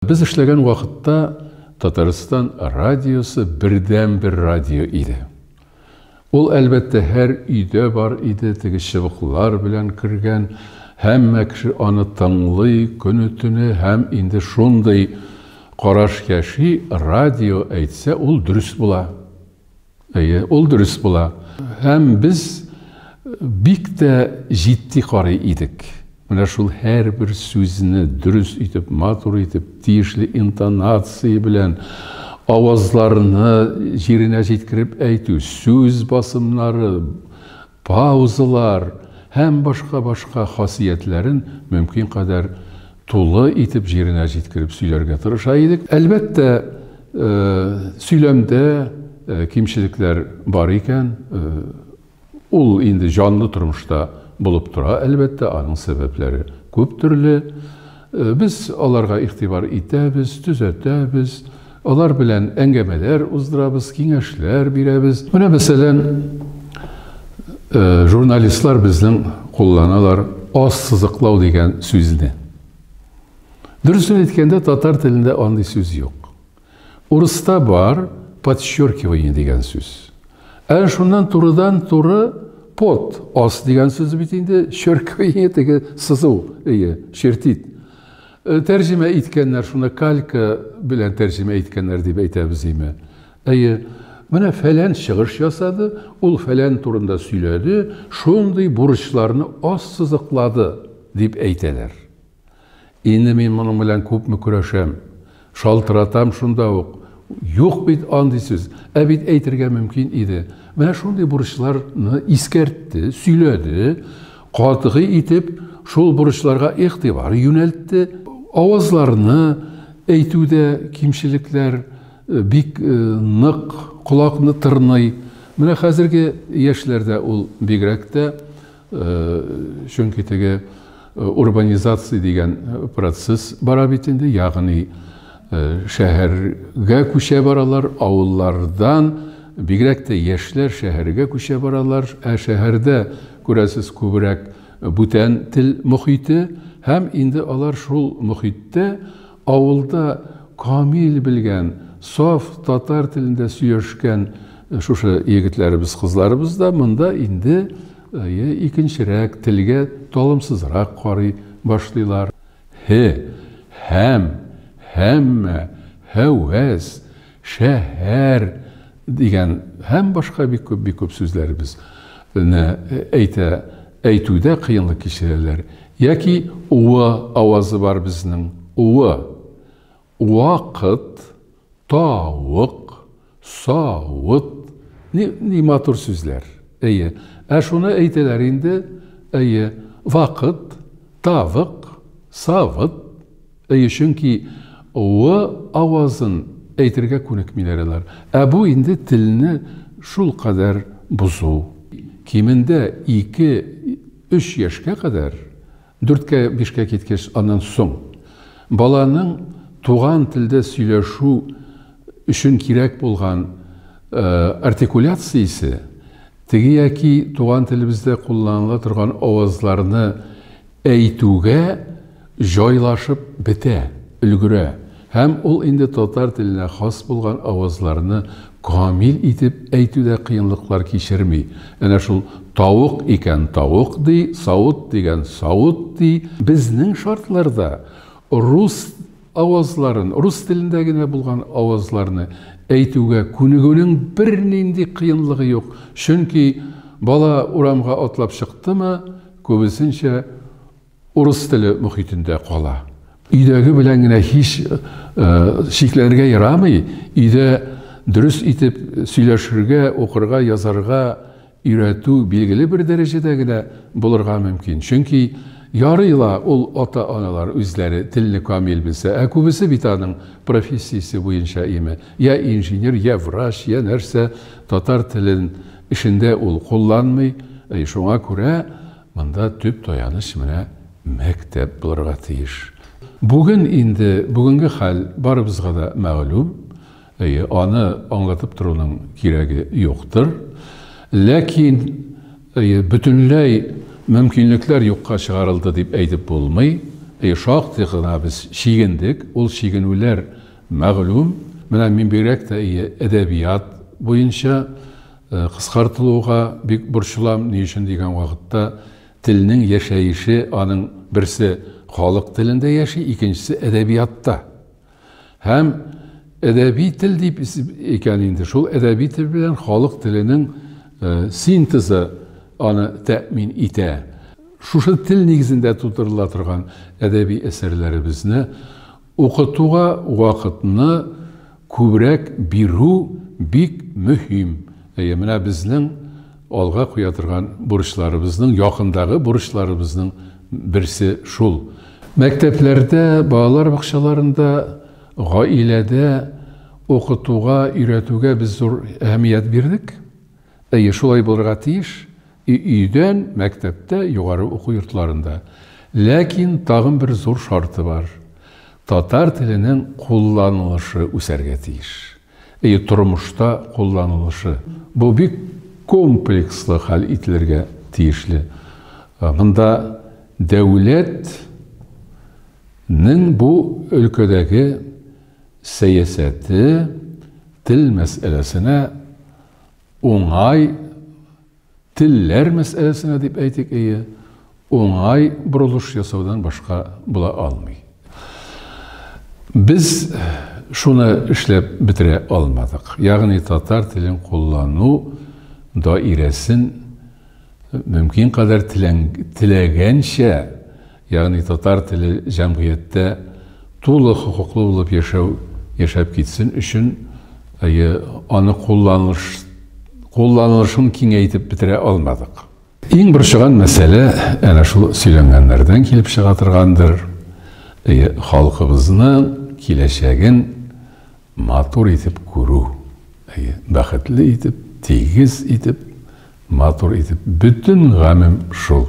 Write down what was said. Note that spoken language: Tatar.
Без эшләгән вакытта Татарстан радиосы бердәнбер радио иде. Ул, әлбәттә, һәр өйдә бар иде, теге чыбыклар белән кергән, һәммә кеше аны тыңлый көне-төне һәм инде шундый караш яши, радио әйтсә, ул дөрес була. Әйе, ул дөрес була. Һәм без бик тә җитди карый идек. Менә шул һәрбер сүзне дөрес итеп, матур итеп, тиешле интонация белән авазларны җиренә җиткереп әйтү, сүз басымнары, паузалар һәм башка-башка хасиятләрен мөмкин кадәр тулы итеп җиренә җиткереп сөйләргә тырыша идек. Әлбәттә, сөйләмдә кимчелекләр бар икән, ул инде җанлы тормышта булып тора, әлбәттә, аның сәбәпләре күп төрле. Без аларга игътибар итәбез, төзәтәбез. Алар белән әңгәмәләр уздырабыз, киңәшләр бирәбез. Менә мәсәлән, журналистлар безнең кулланалар аз сызыклау дигән сүзне. Дөресен әйткәндә, татар телендә андый сүз юк. Урыста бар подчеркивание дигән сүз. Ә шуннан турыдан-туры под аз дигән сүз бит инде, черквение теге сызу, ие, чертит. Тәрҗемә иткәннәр, шуны калька белән тәрҗемә иткәннәр дип әйтәбез име? Әйе. Менә фәлән чыгыш ясады, ул фәлән турында сөйләде, шундый бурычларны ассызыклады, дип әйтәләр. Инде мин моның белән күпме көрәшәм. Шалтыратам шунда ук. Юк бит андый сүз. Ә бит әйтергә мөмкин иде. Менә шундый бурычларны искәртте, сөйләде, катгый итеп шул бурычларга игътибар юнәлтте. Авазларны әйтүдә кимчелекләр бик нык колакны тырный. Менә хәзерге яшьләрдә ул бигрәк тә Чөнки теге урбанизация дигән процесс бара бит инде, ягъни шәһәргә күчә баралар, авыллардан бигрәк тә яшьләр шәһәргә күчә баралар, ә шәһәрдә, күрәсез, күбрәк бүтән тел мохите һәм инде алар шул мохиттә Авылда камил белгән, саф татар телендә сөйләшкән шушы егетләребез, кызларыбыз да монда инде икенчерәк, телгә талымсызрак карый башлыйлар. Һе, һәм, һәммә, һәвәс, Шәһәр! дигән һәм башка бик күп, бик күп сүзләребез не әйтә, әйтүдә кыенлык кичерәләр. Яки уы авазы бар безнең, уы. Уакыт, та-ук, са-ут, ни ни матур сүзләр. Әйе. Ә шуны әйтәләр инде, әйе, вакыт, та-вык, са-выт. Әйе, чөнки ы авазын әйтергә күнекмиләр алар. Ә бу инде телне шулкадәр бозу. Кимендә ике, өч яшькә кадәр, дүрткә, бишкә киткәч, аннан соң баланың туган телдә сөйләшү өчен кирәк булган артикуляциясе, теге яки туган телебездә кулланыла торган авазларны Әйтүгә җайлашып бетә, өлгерә һәм ул инде татар теленә хас булган авазларны камил итеп әйтүдә кыенлыклар кичерми, әнә шул тавык икән тавык ди, савыт дигән савыт ди. Безнең шартларда рус Авазларын, рус телендә генә булган авазларны әйтүгә күнегүнең бернинди кыенлыгы юк, чөнки бала урамга атлап чыктымы, күбесенчә урыс теле мохитендә кала. Өйдәге белән генә һич чикләнергә ярамый, өйдә дөрес итеп сөйләшергә, укырга, язарга, Өйрәтү билгеле бер дәрәҗәдә генә булырга мөмкин, чөнки ярый ла ул ата-аналар үзләре телне камил белсә, ә күбесе бит аның профессиясе буенча име, йә инженер, йә врач, йә нәрсә, татар телен эшендә ул кулланмый, әй, шуңа күрә монда төп таяныч менә мәктәп булырга тиеш. Бүген инде, бүгенге хәл барыбызга да мәгълүм. Әйе, аны аңлатып торуның кирәге юктыр. Ләкин, әйе, бөтенләй мөмкинлекләр юкка чыгарылды дип әйтеп булмый. Әйе, шактый гына без чигендек, ул чигенүләр мәгълүм. Менә мин бигрәк тә, әйе, әдәбият буенча кыскартылуга бик борчылам. Ни өчен дигән вакытта, телнең яшәеше, аның берсе халык телендә яши, икенчесе, әдәбиятта. Һәм әдәби тел дип икән инде, шул әдәби тел белән халык теленең синтезы аны тәэмин итә. Шушы тел нигезендә тудырыла торган әдәби әсәрләребезне укытуга вакытны күбрәк бирү бик мөһим. Әйе, менә безнең Алга куя торган бурычларыбызның, якындагы бурычларыбызның берсе шул. Мәктәпләрдә, балалар бакчаларында, гаиләдә укытуга, өйрәтүгә без зур әһәмият бирдек. Әйе, шулай булырга тиеш, и өйдән, мәктәптә, югары уку йортларында. Ләкин тагын бер зур шарты бар, татар теленең кулланылышы үсәргә тиеш. И тормышта кулланылышы. Бу бик комплекслы хәл ителергә тиешле. Монда дәүләт нең бу өлкәдәге сәясәте тел мәсьәләсенә уңай Телләр мәсьәләсенә дип әйтик, әйе, уңай борылыш ясаудан башка була алмый. Без шуны эшләп бетерә алмадык. Ягъни татар телен куллану даирәсен мөмкин кадәр теләгәнчә Ягъни татар теле җәмгыятьтә тулы хокуклы булып яшәү, яшәп китсен өчен, әйе, аны кулланыш, кулланылышын киңәйтеп бетерә алмадык. Иң борчыган мәсьәлә әнә шул сөйләнгәннәрдән килеп чыга торгандыр, әйе, халкыбызның киләчәген матур итеп күрү, әйе, бәхетле итеп, тигез итеп, матур итеп, бөтен гамем шул.